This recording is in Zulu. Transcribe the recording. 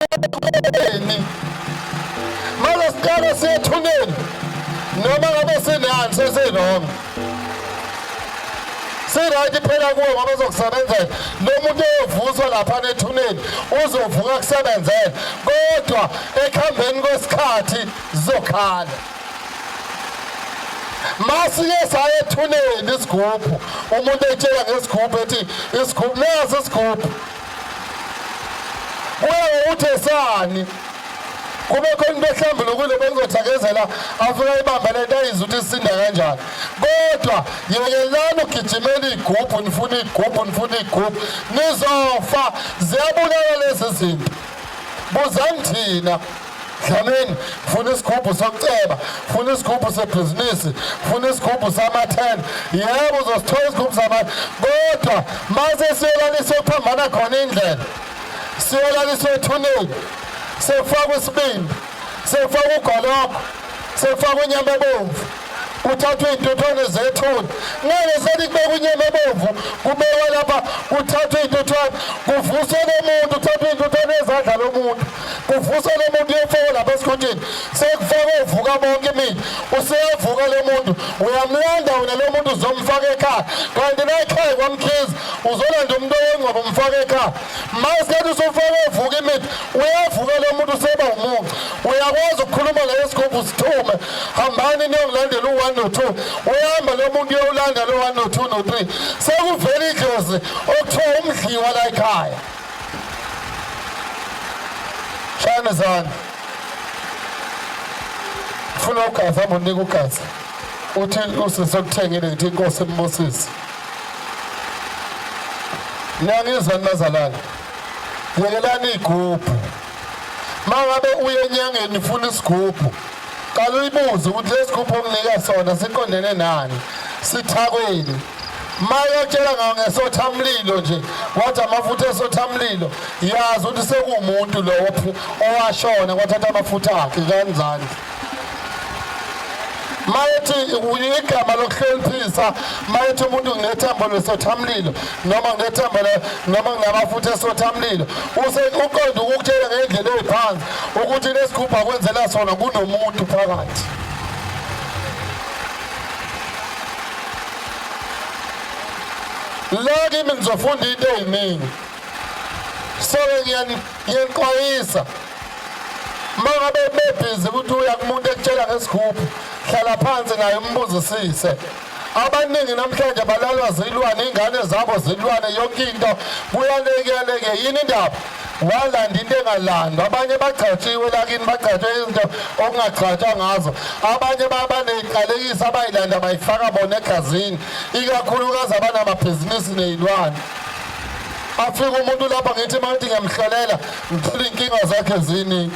ethuneni mase siqale siyethuneni noma ngabe sinani sesinoma sirayiti phela kuwe ngoba uzokusebenzela lo muntu eyovuswa lapha nethuneni uzovuka kusebenzela kodwa ekuhambeni kwesikhathi zizokhala masike saye ethuneni isigubhu umuntu etshela ngesigubhu ethi isigubhu nazi isigubhu Kuye uthe sani kube khona into ehlambulukile bengizothakazela afika ibamba lento ayizwa ukuthi isinda kanjani kodwa yekelani ugijimela iy'gubhu nifuna iy'gubhu nifuna iy'gubhu nizofa ziyabulala lezi zinto buzani thina Dlamini funa isigubhu sokuceba funa isigubhu sebhizinisi funa isigubhu samathenda yebo uzosithola isigubhu samathenda kodwa mase siyolalisa okuphambana khona indlela siyolalisa ethuneni sekufaka isibindi sekufaka ugologo sekufaka unyama bomvu kuthathwe iy'ntuthwane zethuna ngeke selikubeka inyama ebomvu kubekwa lapha kuthathwe iy'ntuthwane kuvuswe lomuntu kuthathwe iy'ntuthwane ezandla lomuntu kuvuswe lomuntu uyofakwa lapha esikhuthini sekufakwe uvuka bonke imini useyavuka lo muntu uyamlanda wena lo muntu uzomfaka ekhaya kanti nayikhaya kwamkhizi uzolanda umuntu owengcwaba umfaka ekhaya ma usethi usufake uvuka imithi uyavuka lo muntu useba umunca uyakwazi ukukhuluma ngayo sikhomba usithume hambani niyokulandela u-one no-two uyahamba lo muntu uyowulanda lo one no-two no-three sekuvela idlozi okuthiwa umdliwa la ekhaya shayane zani funa ugazi hamba unika ugazi uthi usisi okuthengile ngithi inkosi embusisi niyangizwa ninazalana yekelani iy'gubhu mangabe uye enyangeni ufuna isigubhu qala uyibuze ukuthi lesigubhu omnika sona siqondene nani sithakweli mayotshela ngawo ngesothamlilo nje wathi amafutha esothamlilo yazi ukuthi sekuwumuntu lowo owashona kwathatha amafutha akhe kanjani mayethi igama lokuhloniphisa mayethi umuntu nginethambo lesothamlilo noma nginethambo noma nginamafutha esothamlilo uqonde ukukutshela ngendlela eyiphansi ukuthi lesigubhu akwenzela sona kunomuntu phakathi la kimi ngizofunda into eyiningi soke ngiyanixwayisa uma ngabe bebhizi ukuthi uya kumuntu ekutshela ngesigubhu hlala phansi naye umbuzisise abaningi namhlanje balalwa zilwane ingane zabo zilwane yonke into kuyalekeleke yini indaba walanda into engalandwa abanye bagcatshiwe lakini bagcatshe izinto okungagcatshwa ngazo abanye babaneyinqalekisi abayilanda bayifaka bona egazini ikakhulukazi abanamabhizinisi neyilwane afike umuntu lapha ngithi mawuthi ngiyamhlalela ngithole iy'nkinga zakhe ziningi